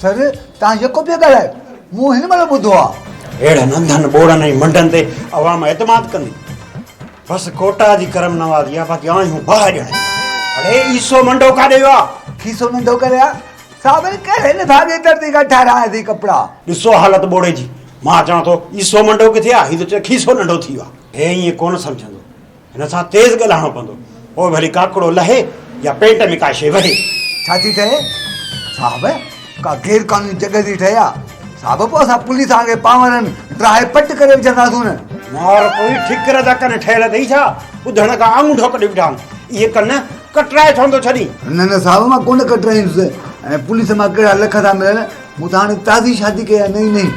سر، توهان يڪو پيا ڳالهايو، مون هن مهل ٻڌو آ. اهڙن انڌن ٻوڙن ۽ منڊن تي عوام اعتماد ڪندي؟ بس ڪوٽا جي ڪرم نوازي آ، باقي آهيون باهه ڄڻا. اڙي عيسو منڊو ڪاڏي ويو آ؟ کيسو منڊو ڪري آ؟ صابر ڪهڙي لفافي جي ترتي کان ٺهراياسين ڪپڙا؟ ڏسو حالت ٻوڙي جي، مان چوان ٿو عيسو منڊو ڪٿي آ، هي ته چوي کيسو ننڍو ٿي ويو آ. هي ائين ڪونه سمجهندو. هن سان تيز ڳالهائڻو پوندو، پوء ڀلي ڪاڪڙو لهي يا پينٽ ۾ ڪا شيء وهي. ڇا ٿي ٺهي صاحب؟ ڪا غير قانوني جڳهه ٿي ٺهي ها صاحب، پوء اسان پوليس آڱي پانورن ڊاهي پٽ ڪري وجهنداسون نه. مار پوي ٺڪر جا ڪن ٺهيل اٿئي ڇا؟ ٻڌڻ کان آڱوٺو ڪڍي بيٺا آهن. اهي ڪن ڪٽرائي ڇونه ٿو ڇڏين؟ نه نه صاحب مان ڪونه ڪٽرائيندس. ۽ پوليس مان ڪهڙا لک ٿا ملن، مون ته هاڻي تازي شادي ڪئي آهي نئين نئين.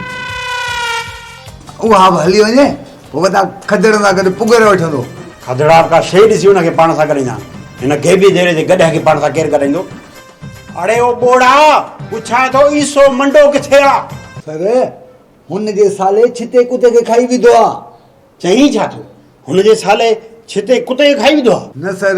اها به هلي وڃي. هو وڏا کدڙن سان گڏ پگهر وٺندو. کدڙا به ڪا شيء ڏسي هن کي پاڻ سان ڳڏائيندا آهن. هن گيبي ديري جي گڏهه کي پاڻ سان ڪير ڳڏائيندو؟ اڙي او ٻوڙا! پڇان ٿو عيسو منڊو ڪٿي آ؟ سر، هن جي سالي ڇتي ڪتي کي کائي وڌو آ. چئين ڇا ٿو؟ هن جي سالي ڇتي ڪتي کي کائي وڌو آ؟ نه سر!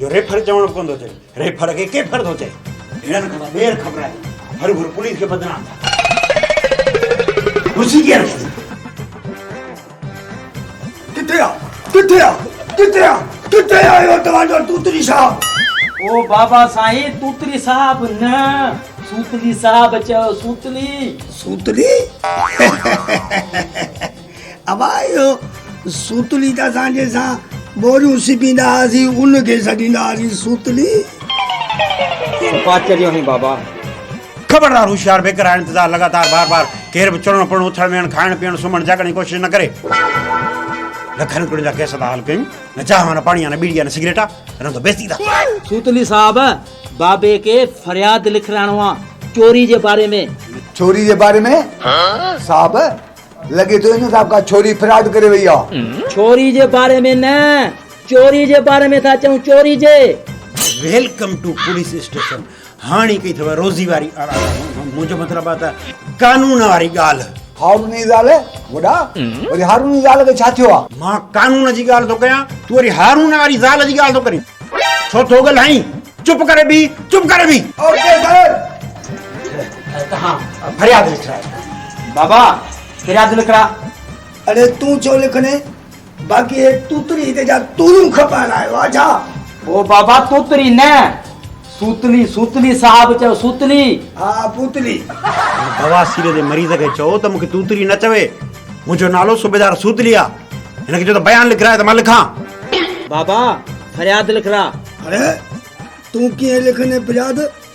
جو ريفر چوڻ به ڪونه ٿو چئي ريفر کي ڪيفر ٿو چئي هيڻن کان ته ٻيهر خبر آهي هر گهر پوليس کي بدنام ٿا ڪن ڪرسي ڪيئن رکي اٿئي ڪٿي آ ڪٿي آ ڪٿي آ ڪٿي آ اهو توهان جو توتري صاحب او بابا سائين توتري صاحب نه سوتلي صاحب چيو سوتلي سوتلي ابا اهو سوتلي ته اسان جنهن سان ٻوريون سبيندا هئاسين ان کي سڏيندا هئاسين سوتلي. صفا چريو آهين بابا. خبردار هوشيار بيڪر آء انتظار لڳاتار بار بار ڪير به چڙهڻ پڙهڻ اٿڻ ويهڻ کائڻ پيئڻ سمهڻ جاڳڻ جي ڪوشش نه ڪري لکن روپين جا ڪيس ٿا حل ڪيون نه چانهه نه پاڻي آ نه ٻيڙي آ نه سگريٽ آ رند بيستي ٿا سوتلي صاحب بابي کي فرياد لکرائڻو آ چوري جي باري ۾ چوري جي باري ۾ صاحب لڳي ٿو ان سان ڪا ڇوري فراڊ ڪري وئي آ. ڇوري جي باري ۾ نه چوري جي باري ۾ ٿا چئون چوري جي. ويلڪم ٽو پوليس اسٽيشن هاڻي ڪئي اٿو روزي واري منهنجو مطلب آ ته قانون واري ڳالهه. هاروني زال وڏا وري هاروني زال کي ڇا ٿيو آ. مان قانون جي ڳالهه ٿو ڪيان تون وري هارون واري زال جي ڳالهه ٿو ڪرين ڇو ٿو ڳلهائين چپ ڪري بيهه چپ ڪري بيهه. Okay sir. تهان فرياد لکرائي. بابا فرياد لکرا. اڙي تون ڇو لکڻي باقي هي توتري هتي جا تورون کپائڻ آيو آ ڇا. او بابا توتري نه سوتلي سوتلي صاحب چيو سوتلي. ها پوتلي. هن بواسير جي مريض کي چئو ته مون کي توتري نه چوي منهنجو نالو صوبيدار سوتلي آ هن کي چئو ته بيان لکرائي ته مان لکان. بابا فرياد لکرا. اڙي تون ڪيئن لکڻي فرياد.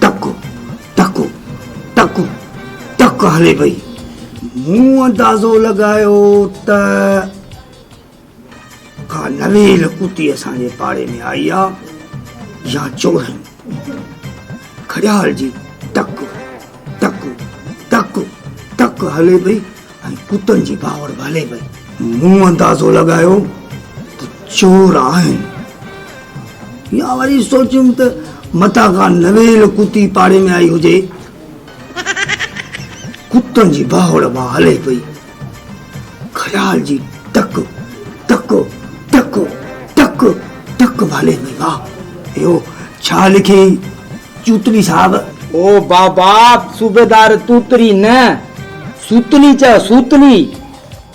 ٽڪ ٽڪ ٽڪ ٽڪ هلي پئي مون اندازو لڳايو ته ڪا نويل اتي اسان جي پاڙي ۾ آئي آ يا چورن گھڙيال جي ٽڪ ٽڪ ٽڪ ٽڪ هلي پئي ۽ ڪتن جي ڀانوڙ ڀالي پئي. مون اندازو لڳايو ته چور آهن يا وري سوچيم ته متان ڪا نويل ڪتي پاڙي ۾ آئي هجي. ڪتن جي ڀانوڙ مان هلي پئي. خيال جي ٽڪ ٽڪ ٽڪ ٽڪ ٽڪ ڀالي پئي. واهه! اهو ڇا لکيئي؟ چوتلي صاحب. او بابا صوبيدار توتلي نه سوتلي چئه سوتلي.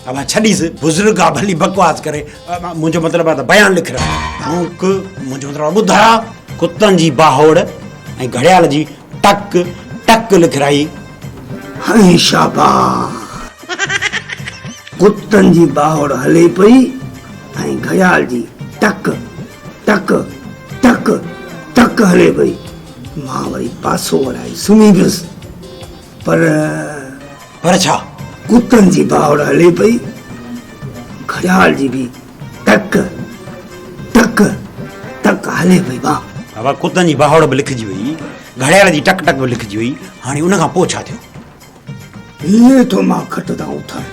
اوهان ڇڏيس بزرگ آ ڀلي بڪواس ڪري منهنجو مطلب آ ته بيان لک رهيو آهون ڪه منهنجو مطلب آ ٻڌايا ڪتن جي باهوڙ ۽ گهڙيال جي ٽڪ ٽڪ لک رهي هي شاباس ڪتن جي باهوڙ هلي پئي ۽ گهڙيال جي ٽڪ. ٽڪ ٽڪ ٽڪ هلي پئي. مان وري پاسو ورائي سمهي پيس. پر. پر ڇا؟ ڪتن جي ڀاڙ هلي پئي. گهڙيال جي به ٽڪ ٽڪ ٽڪ هلي پئي ڀاء. بابا ڪتن جي ڀاڙ به لکجي وئي. گهڙيال جي ٽڪ ٽڪ به لکجي وئي. هاڻي ان کان پوء ڇا ٿيو؟ هيء ٿو مان کٽ تان اٿائين.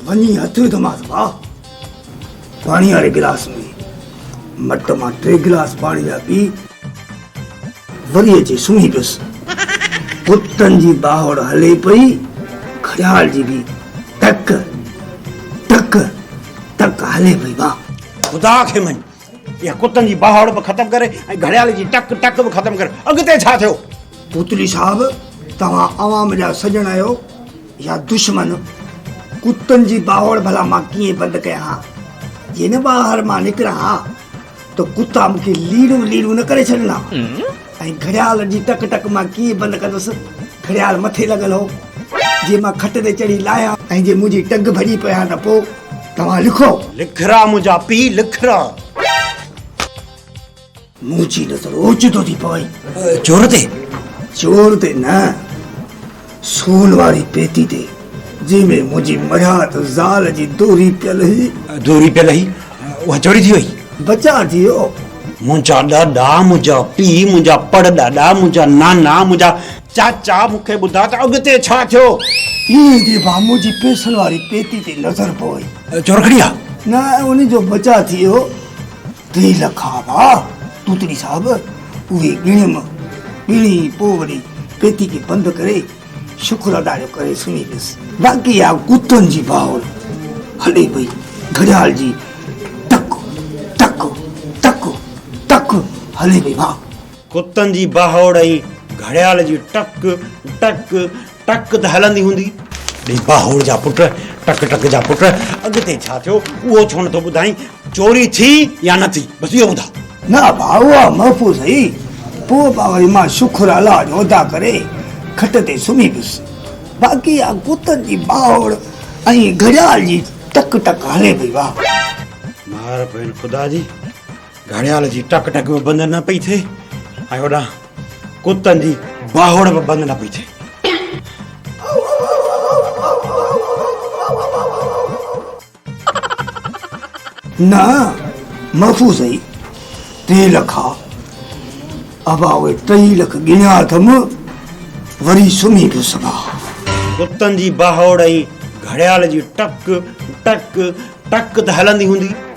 وڃي هٿ وڌومانس واهه. پاڻيء واري گلاس ۾ مٽ مان ٽي گلاس پاڻي جا پي، وري اچي سمهي پيس. ڪتن جي ٻاهوڙ هلي پئي، خيال جي به ٽڪ، ٽڪ، ٽڪ هلي پئي. واهه! خدا کي مڃ! اها ڪتن جي ٻهاڙ به ختم ڪري ۽ گهڙيال جي ٽڪ ٽڪ به ختم ڪري اڳتي ڇا ٿيو؟ پوتلي صاحب توهان عوام جا سڄڻ آهيو يا دشمن؟ ڪتن جي ٻهاڙ ڀلا مان ڪيئن بند ڪيان ها؟ جي نه ٻاهر مان نڪران ها ته ڪتا مون کي ليڙون ليڙون نه ڪري ڇڏن ها؟ ۽ گهڙيال جي ٽڪ ٽڪ مان ڪيئن بند ڪندس، گهڙيال مٿي لڳل هو، جي مان کٽ تي چڙهي لاهيان. ۽ جي منهنجي ٽنگ ڀڄي پئي ها ته پوء توهان لکو. لک را منهنجا پي لک را. منهنجي نظر اوچتو ٿي پوي. چور تي؟ چور تي نه. سون واري پيتي تي، جنهن ۾ منهنجي مرحت زال جي دوري پيل هئي. دوري پيل هئي، اها چوري ٿي وئي. بچاء ٿي ويو. منهنجا ڏاڏا، منهنجا پيء، منهنجا پڙ ڏاڏا، منهنجا نانا، منهنجا چاچا مون کي ٻڌاء ته اڳتي ڇا ٿيو؟ ائين چئي ڀا منهنجي پئسن واري پيتي تي نظر پوي. چور کڻي ويا؟ نه، ان جو بچاء ٿي ويو. ٽي لک ها ڀاء توتڙي صاحب اهي ڳڻيم ڳڻي پوء وري پيتي کي بند ڪري شڪر ادا جو ڪري سمهي پيس باقي اها ڪتن جي باهول هلي پئي گهڙيال جي ٽڪ ٽڪ ٽڪ ٽڪ هلي پئي ڀاء. ڪتن جي باهوڙ ۽ گهڙيال جي ٽڪ ٽڪ ٽڪ ته هلندي هوندي. ڙي باهوڙ جا پٽ، ٽڪ ٽڪ جا پٽ، اڳتي ڇا ٿيو اهو ڇو نٿو ٻڌائين؟ چوري ٿي يا نه ٿي، بس اهو ٻڌاء. نه ڀاء، اها محفوظ هئي. پوء به وري مان شڪر الله جو ادا ڪري کٽ تي سمهي پيس. باقي اها ڪتن جي باهوڙ ۽ گهڙيال جي ٽڪ ٽڪ هلي پئي. واهه! مهر پوين خدا جي، گهڙيال جي ٽڪ ٽڪ به بند نه پئي ٿئي ۽ هوڏان ڪتن جي باهوڙ به بند نه پئي ٿئي نه محفوظ اهي ٽي لک آ ابا اهي ٽئي لک ڳڻيا اٿم وري سمهي به سگهان ڪتن جي باهوڙ ۽ گهڙيال جي ٽڪ ٽڪ ٽڪ ته هلندي هوندي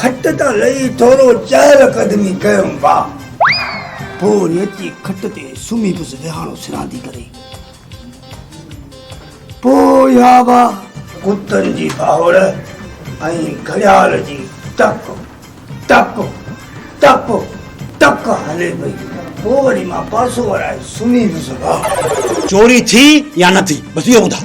کٽ تان لھي ٿورو چهل قدمي ڪيم وا. پوء نيچي کٽ تي سمھي پيس ويھاڻو سراندي ڪري. پوء اھا وا. ڪتن جي ڀاھوڙ ۽ گھڙيال جي ٽپ ٽپ ٽپ ٽپ ھلي پئي. پوء وري مان پاسو ورائي سمھي پيس وا. چوري ٿي يا نه ٿي بس اھو ٻڌاء.